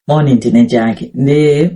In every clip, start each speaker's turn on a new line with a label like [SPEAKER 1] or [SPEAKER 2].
[SPEAKER 1] moni ndine chake ndi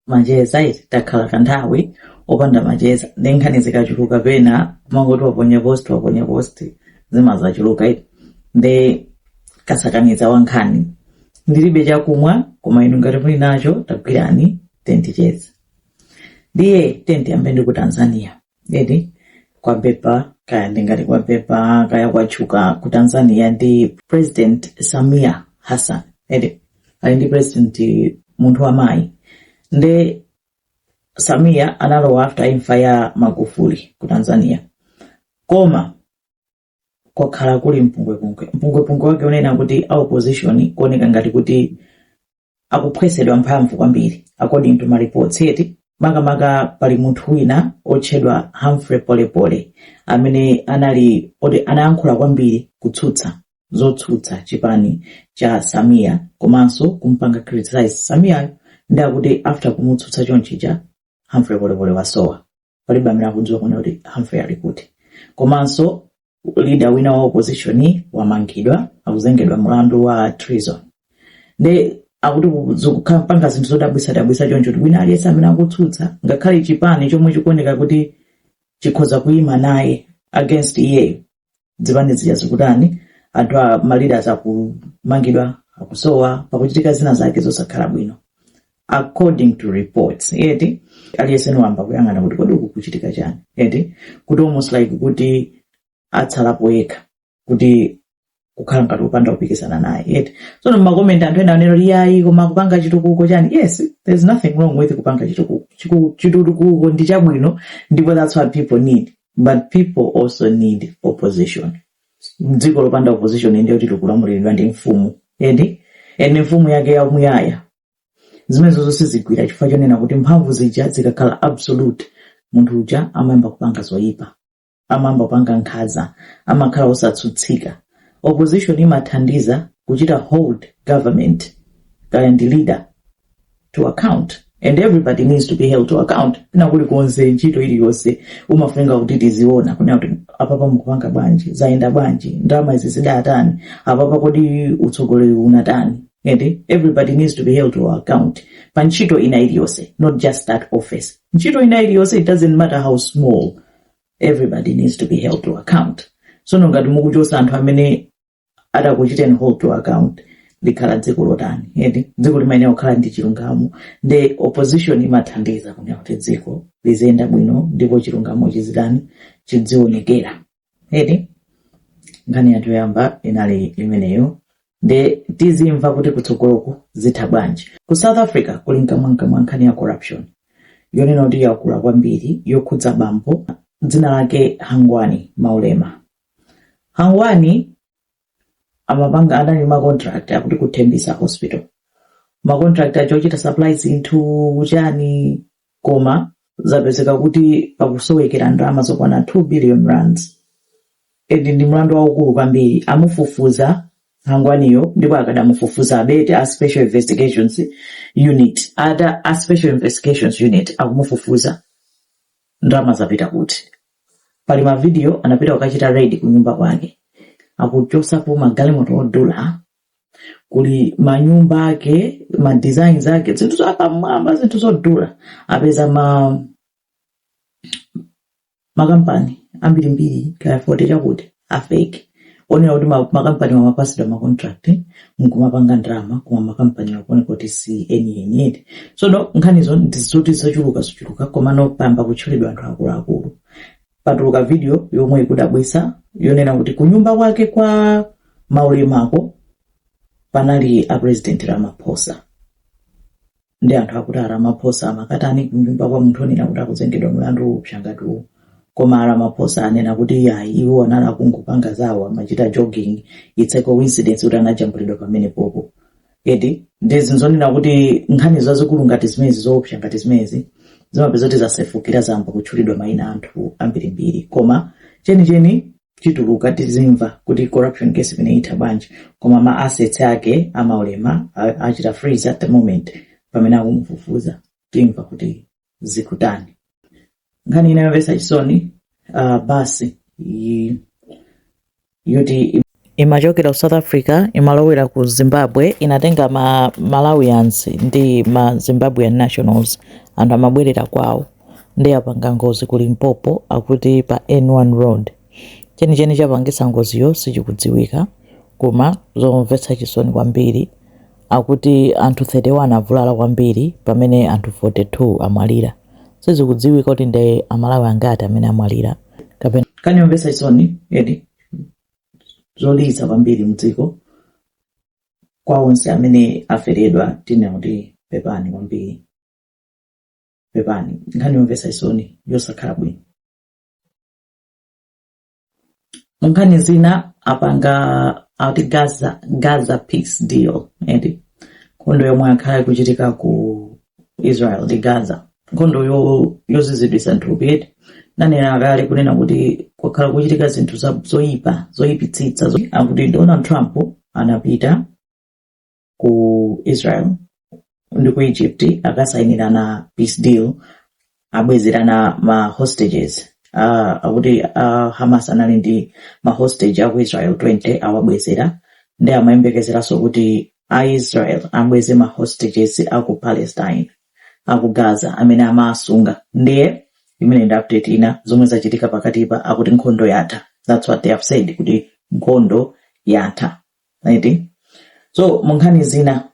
[SPEAKER 1] macheza eti takhala kanthawi opanda macheza nde nkhani zikachuluka pena kumangoti waponya post waponya post zimazachuluka eti nde kasakaniza wa nkhani ndilibe chakumwa koma inu ngati muli nacho tagwirani tenticheza ndiye tenti yambe ndi ku tanzania eti kwapepa kaya ndingati kwapepa kaya kwatchuka ku tanzania ndi president samia hassan eti ali ndi president munthu wamayi nde samia analowa after imfa ya magufuli ku tanzania koma kwakhala kuli mpungwepungwe mpungwepungwe wake unena kuti a opposition kuoneka ngati kuti akuphwesedwa mphamvu kwambiri according to mareports eti makamaka pali munthu wina otchedwa Humphrey Polepole amene anali oti anayankhula kwambiri kutsutsa zotsutsa chipani cha Samia komanso kumpanga criticize Samiayo nde akuti after kumutsutsa chonchija Humphrey Polepole wasowa palibe amene akudziwa kunena kuti Humphrey ali kuti komanso leader wina wa opposition wamangidwa akuzengedwa mlandu wa treason nde akuti zikupanga zinthu zodabwisadabwisa choncho kuti wina aliyense amene akutsutsa ngakhale chipani chomwe chikuoneka kuti chikhoza kuima naye against iyeyo zipani zija zikutani anthu a maleaders akumangidwa akusowa pakuchitika zina zake zosakhala bwino according to reports eti aliyense niwamba kuyang'ana kuti kodi uku kuchitika chani eti kuti almost like kuti atsalapo yekha kuti kukhala ngati kupanda kupikisana naye eti tsono mmakomenti anthu ena anena kuti yayi koma kupanga chitukuko chani yes there's nothing wrong with kupanga chitukuko Chiku- chitukuko ndi chabwino ndipo that's what people need but people also need opposition dziko lopanda opposition ndiye kuti likulamuliridwa ndi mfumu eti and mfumu yake yamuyaya zimenezo zosezo sizigwira chifukwa chonena kuti mphamvu zija zikakhala absolute munthu uja amayamba kupanga zoyipa amayamba kupanga nkhaza amakhala osatsutsika opposition imathandiza kuchita hold government kaya ndi leader to account and everybody needs to be held to account nakulikonse ntchito iliyonse umafunika kuti tiziona kunena kuti apapa mukupanga bwanji zayenda bwanji ndalama izi zidatani apapa kodi utsogoleri unatani and everybody needs to be held to account pa ntchito ina iliyonse not just that office ntchito ina iliyonse it doesn't matter how small everybody needs to be held to account sono ngati mukuchosa anthu amene atakuchiteni hold to account likhala dziko lotani eti dziko limayenera kukhala ndi chilungamo ndi opposition imathandiza kunena kuti dziko liziyenda bwino ndipo chilungamo chizitani chizionekera eti nkhani yathu yoyamba inali imeneyo nde tizimva kuti kutsogoloku zitha bwanji ku south africa kuli mkamwamkamwa nkhani ya corruption yonena kuti yakula kwambiri yokhudza bambo dzina lake hangwani maumela Hangwani amapanga adali ma contract akuti ku Tembisa hospital ma contract aja ochita supply zinthu chani koma zapezeka kuti pakusowekera ndalama zokwana 2 billion rands and ndi mlandu waukulu kwambiri amufufuza hangwaniyo ndipo akadamufufuzabe eti a special investigations unit ata a special investigations unit akumufufuza ndalama zapita kuti pali mavidiyo anapita kukachita raid kunyumba kwake akuchotsapo magalimoto odula kuli manyumba ake ma designs ake zinthu zapamwamba zinthu zodula apeza ma makampani ambirimbiri kaya forty chakuti afake onena kuti ma- makampani amapatsidwa ma contract nkumapanga ndalama koma makampani akuoneka kuti si enieni eti sono nkhanizo ndizoti zochuluka zochuluka komano payamba kutchulidwa anthu akuluakulu patuluka video yomwe ikudabwisa yonena kuti kunyumba kwake kwa maumelako panali a president ramaphosa nde anthu akuti a Ramaphosa amakatani kunyumba kwa munthu onena kuti akuzengedwa mlandu woopsa ngati uwu. Koma a Ramaphosa anena kuti iyayi iwo anali akungopanga zawo amachita jogging it's a coincidence kuti anajambulidwa pamenepopo. Eti ndi zinthu zonena kuti nkhani zazikulu ngati zimenezi zoopsa ngati zimenezi zimapezeka kuti zasefukira zayamba kutchulidwa mayina a anthu ambirimbiri koma chenicheni chituluka tizimva kuti corruption case imeneyi itha bwanji koma ma assets ake a maumela a- achita freeze at the moment pamene akumufufuza timva kuti zikutani nkhani ina yomvetsa chisoni uh, basi ija yoti imachokera ku south africa imalowera ku zimbabwe inatenga ma malawians ndi ma zimbabwean nationals anthu amabwerera kwawo nde apanga ngozi ku Limpopo akuti pa N1 road. Chenicheni chapangitsa ngoziyo sichikudziwika koma zomvetsa chisoni kwambiri akuti anthu 31 avulala kwambiri pamene anthu 42 amwalira. Sizikudziwika kuti nde Amalawi angati amene amwalira kapena. Nkhani yomvetsa chisoni eti, zolilitsa kwambiri mdziko kwa onse amene aferedwa tinena kuti pepani kwambiri. pepani nkhani yomvetsa chisoni yosakhala bwino nkhani zina apanga ati gaza gaza peace deal eti nkhondo yomwe yakhala ikuchitika ku israel ndi gaza nkhondo yozizidwitsa nthupi eti nanena kale kunena kuti kwakhala kuchitika zinthu zoyipa zoyipitsitsa akuti donald trump anapita ku Israel ndi ku Egypt akasainirana peace deal abwezerana ma hostages uh, akuti uh, Hamas anali ndi ma hostage aku Israel 20 awabwezera ndi akuyembekezeranso kuti a Israel abweze ma hostages aku Palestine aku Gaza amene amawasunga ndiye imeneyo ndi update ina zomwe zachitika pakatipa akuti nkhondo yatha that's what they have said kuti nkhondo yatha right so mu nkhani zina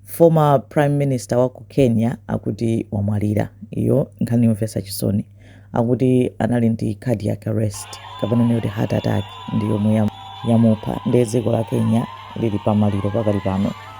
[SPEAKER 1] former prime minister wa ku kenya akuti wamwalira iyo nkhani yomvetsa chisoni akuti anali ndi cardiac arrest kapena tinene kuti heart attack ndi yomwe yam- yamupha ndiye dziko la kenya lili pamaliro pakali pano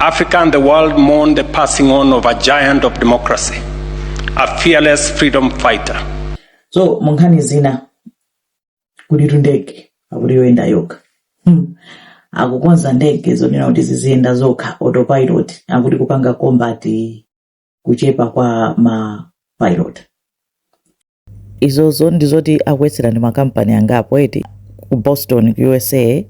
[SPEAKER 1] Africa and the world mourn the passing on of a giant of democracy, a fearless freedom fighter. So, munkhani zina kuti tundege akuti yoyenda yokha hmm. akukonza ndege zonena kuti ziziyenda zokha autopilot akuti kupanga combat kuchepa kwa ma pilot izozo ndizoti akuyesera ndi makampani angapo eti ku boston ku usa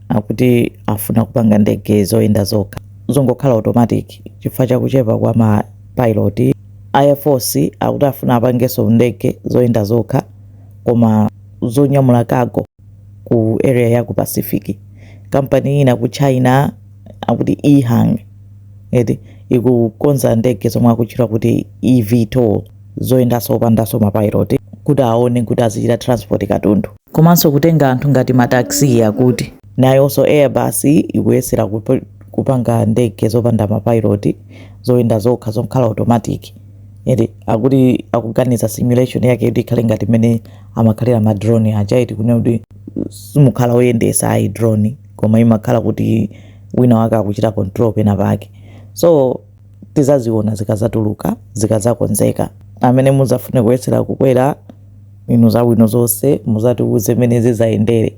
[SPEAKER 1] akuti afuna kupanga ndege zoyenda zokha zongokhala automatic chifukwa chakuchepa kwa ma pilot air force akuti afuna apangenso ndege zoyenda zokha koma zonyamula cargo ku area ya ku pacific kampani ina ku china akuti ehang eti ikukonza ndege zomwe akutchula kuti evtol zoyendanso opandanso mapilot kuti aone kuti azichita transport katundu komanso kutenga anthu ngati mataxi akuti nayonso airbus ikuyesera kup- kupanga ndege zopanda mapilot zoyenda zokha zokhala automatic eti akuti akuganiza simulation yake kuti ikhale ngati mmene amakhalira ma drone aja eti kunena kuti simukhala oyendesa ayi drone koma imakhala kuti wina wake akuchita control pena pake so tizaziona zikazatuluka zikazakonzeka amene muzafune kuyesera kukwera inu zabwino zonse muzatiuze mmene zizayendere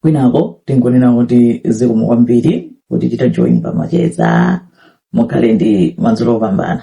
[SPEAKER 1] kwinaku tingonena kuti zikomo kwambiri potichita join pamacheza mukhale ndi madzulo opambana